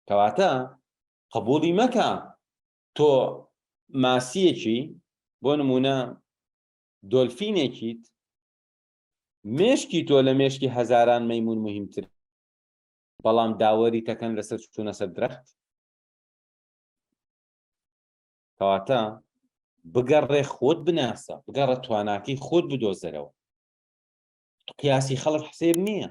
کەواتە قبوڵی مەکە تۆ ماسیەکی بۆ نمونە دۆلفینێکیت مێشکی تۆ لە مێشکی هەزاران مەمون مهمتر بەڵام داوەری تەکەن لەسەر چونە سەر درەخت کەواتە بگەڕێ خۆت بناسە بگەڕە تواناکی خۆت بدۆزەرەوە قیاسی خەڵک حسێب نییە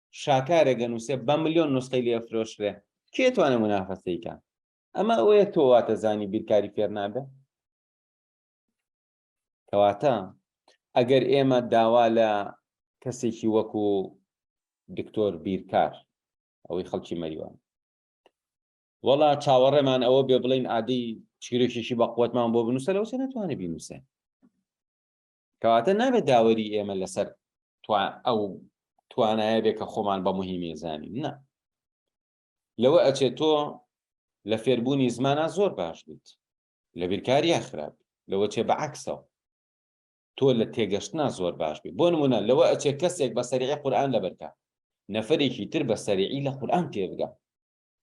شاکارێک دەنووسێ بە ملیۆن نوسخەی لێ فرۆشرێ کێ توانێ منافەسەیکە ئەمە ئەوەیە تۆ واتە زانی بیرکاری فێر نابێ کەواتە ئەگەر ئێمە داوا لە کەسێکی وەکو دکتۆر بیرکار ئەوەی خەڵکی مەریوان وەڵا چاوەڕێمان ئەوە بێ بڵین عادی چیرۆکێکی بە قوتمان بۆ بنووسە لەو سێ ناتوانێت بینووسێ کەواتە نابێت داوەری ئێمە لەسەر ئەو توانایە بێ کە خۆمان بە مهمی زانین نا لەوە ئەچێت تۆ لە فێربوونی زمانە زۆر باش بیت لە بیرکاریە خراپ لەوە چێ بە عکسەوە تۆ لە تێگەشتنا زۆر باش بی بۆ نمونە لەوە ئەچێ کەسێک بە سەریعی قورآان لەبەرکە نەفرێکی تر بە سەریعی لە قورآان تێبگە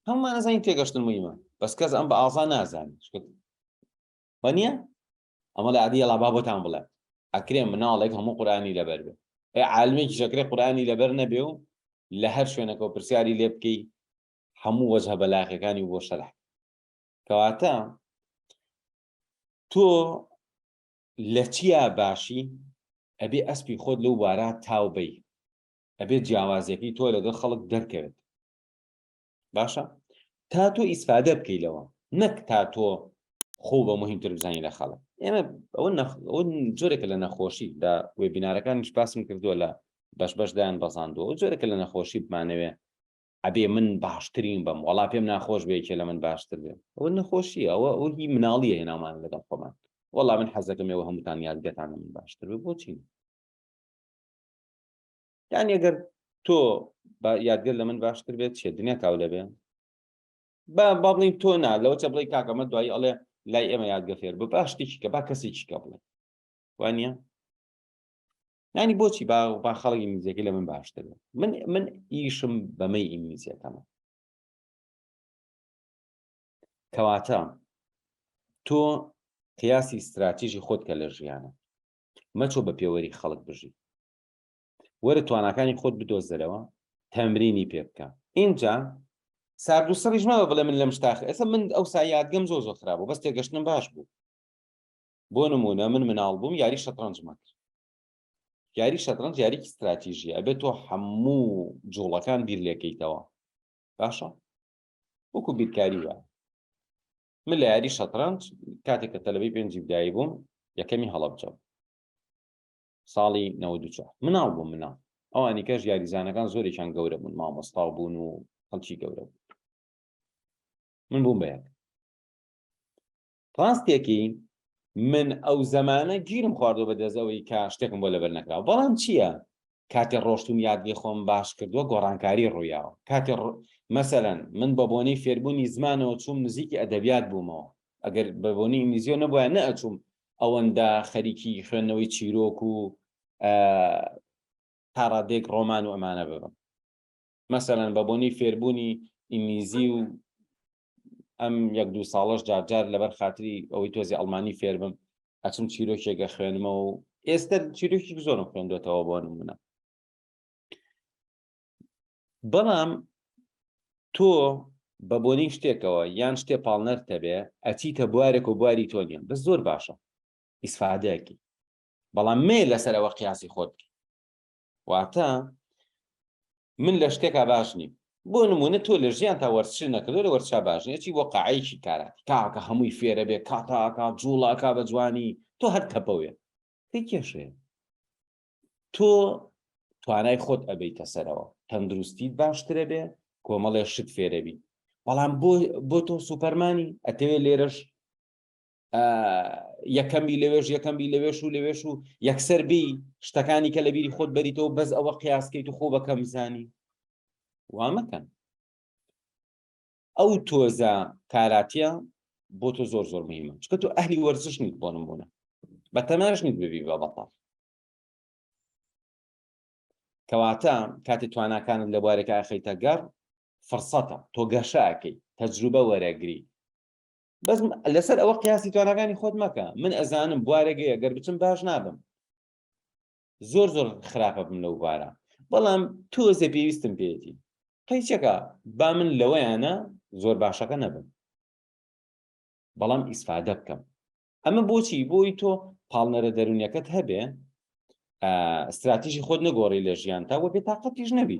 هەمومان نزانین تێگەشتن مهمە بەس کەس ئەم بە ئازا نازانانی وە نییە ئەمە لە عەدی ئەڵا با بۆتان بڵێم ئەکرێ مناڵێک هەموو قورئانی لەبەر بێ ئێ عالمێکیش ئەکرێ قورئانی لەبەر نەبێ و لە هەر شوێنەکە و پرسیاری لێ بکەی هەموو وەجهە بەلاغەکانی بۆ شەرح کەواتە تۆ لە چیا باشی ئەبێ ئەسپی خۆت لەو بارە تاوبەی ئەبێت جیاوازیەکەی تۆ لەگەڵ خەڵک دەرکەوێت باشە تا تۆ ئیسفادە بکەی لەوە نەک تا تۆ خۆ بە مهمتر بزانانی لە خەڵک ئێمە ئەوە جۆرێکە لە نەخۆشی لە وێبینارەکانیش باسم کردووە لە بەش بەشدایان بەزاندووە و جۆرێکە لە نەخۆشی بمانەوێ ئەبێ من باشترین بم وڵا پێم ناخۆش بێکێ لە من باشتر بێ ئەوە نەخۆشی ئەوە ئەو هی مناڵیە هێنامان لەگەڵ خۆمان وەڵا من حەزەکەمەوە هەمووتان یادگەتانە من باشتر بۆچین یعنی ئەگەر تۆ بە یادگەر لە من باشتر بێت چێ دنیا کاو لەبێ بە با بڵین تۆ نا لەوە چە بڵی کاکەمە دوایی ئەڵێ لای ئێمە یادگە فێر بە باشتێکی کە با کەسێکی کە بڵێ وانە نانی بۆچی با با خەڵکی میزەکە لە من باشتر من من ئیشم بەمەی ئینگلیزیەکەمە کەواتە تۆ قیاسی استراتیژی خۆت کە لە ژیانە مەچۆ بە پێوەری خەڵک بژی وەرە تواناکانی خۆت بدۆزەرەوە تەمرینی پێ بکە ئینجا سارد و سڕیش مەوە بڵێ من لەم شتاخ ئێستا من ئەو سایادگەم زۆ زۆ خراپە بەس تێگەشتنم باش بوو بۆ نمونە من مناڵ بووم یاری شەترەنج مەکر یاری شەترەنج یاریکی استراتیژی ئەبێت تۆ هەموو جوڵەکان بیر لێکەیتەوە باشە وەکو بیرکاری وە من لە یاری شەترەنج کاتێک کە تەلەبەی پێنجی بدایی بووم یەکەمی هەڵەبجەم ساڵی نەوەد و چوار مناڵ بووم مناڵ ئەوانی کەش یاریزانەکان زۆرێکیان گەورە بوون مامۆستا و بوون و خەڵکی گەورە بوون من بووم بە یەک ڕاستێکی من ئەو زەمانە گیرم خواردۆ بە دەزەوەی کە شتێکم بۆ لەبەر نەکراوە بەڵام چییە کاتێ ڕۆشتوم یادگەی خۆم باش کردووە گۆڕانکاری ڕوویاوە کاتێ مەسەرەن من بە بۆنەی فێربوونی زمانەوە چووم نزیکی ئەدەبیات بوومەوە ئەگەر بە بۆنی ئینگلیزیۆ نەبووە نە ئەچووم ئەوەندە خەریکی خوێندنەوەی چیرۆک و تا ڕادێک ڕۆمان و ئەمانە ببم مەسەرەن بە بۆنی فێربوونی ئینگلیزی و ئەم یەک دوو ساڵش جارجار لەبەر خااتری ئەوەی تۆزی ئەڵمانی فێربم ئەچم چیرۆکێکە خوێنمەوە و ئێستا چیرۆکی زۆرم خوێندوێتەوە بۆ نمونە بەڵام تۆ بە بۆنی شتێکەوە یان شتێ پاڵنەر تەبێ ئەچیتە بوارێک و بواری تۆ نیە بەس زۆر باشە ئیسفادەیەکی بەڵام مێ لەسەرەوە قیاسی خۆت واتە من لە شتێکا باش نیم بۆ نمونە تۆ لە ژیان تا وەرچ نەکردو لە وەرچا باشنێکی بۆ قاعەیەکی کاراتی کاکە هەمووی فێرە بێ کاتاکە جوڵاکە بە جوانی تۆ هەر تەپەوێ کێشێ تۆ توانای خۆت ئەبیتە سەرەوە تەندروستیت باشترە بێ کۆمەڵێ شت فێرەبی بەڵام بۆ تۆ سوپەرمانی ئەتەوێ لێرەش یەکەمی لەوێش یەکەمی لەوێش و لەوێش و یەکسەر بی شتەکانی کە لە بیری خۆت بەریتەوە بەس ئەوە قیاسکەیت و خۆ بەکەم زانی وامەکەن ئەو تۆزە کاراتیە بۆ تۆ زۆر زۆر مهمە چکە تۆ ئەهلی وەرزش نیت بۆ نمونە بە تەماش نیت ببی بە بەتاڵ کەواتە کاتی تواناکانت لە بوارێکە ئەخیتە گەڕ فرسەتە تۆ گەشاکەی تەجروبە وەرەگری بەس لەسەر ئەوە قیاسی توانەکانی خۆت مەکە من ئەزانم بوارێگەیە گەر بچم باش نابم زۆر زۆر خراپە بم لەو بارە بەڵام تۆزێ پێویستم پێێتی قەیچەکە با من لەوەیانە زۆر باشەکە نەبم بەڵام ئیسفادە بکەم ئەمە بۆچی بۆی تۆ پاڵنەرە دەرونیەکەت هەبێ استراتیژی خۆت نەگۆڕی لە ژیان تا وە بێتاقەتیش نەبی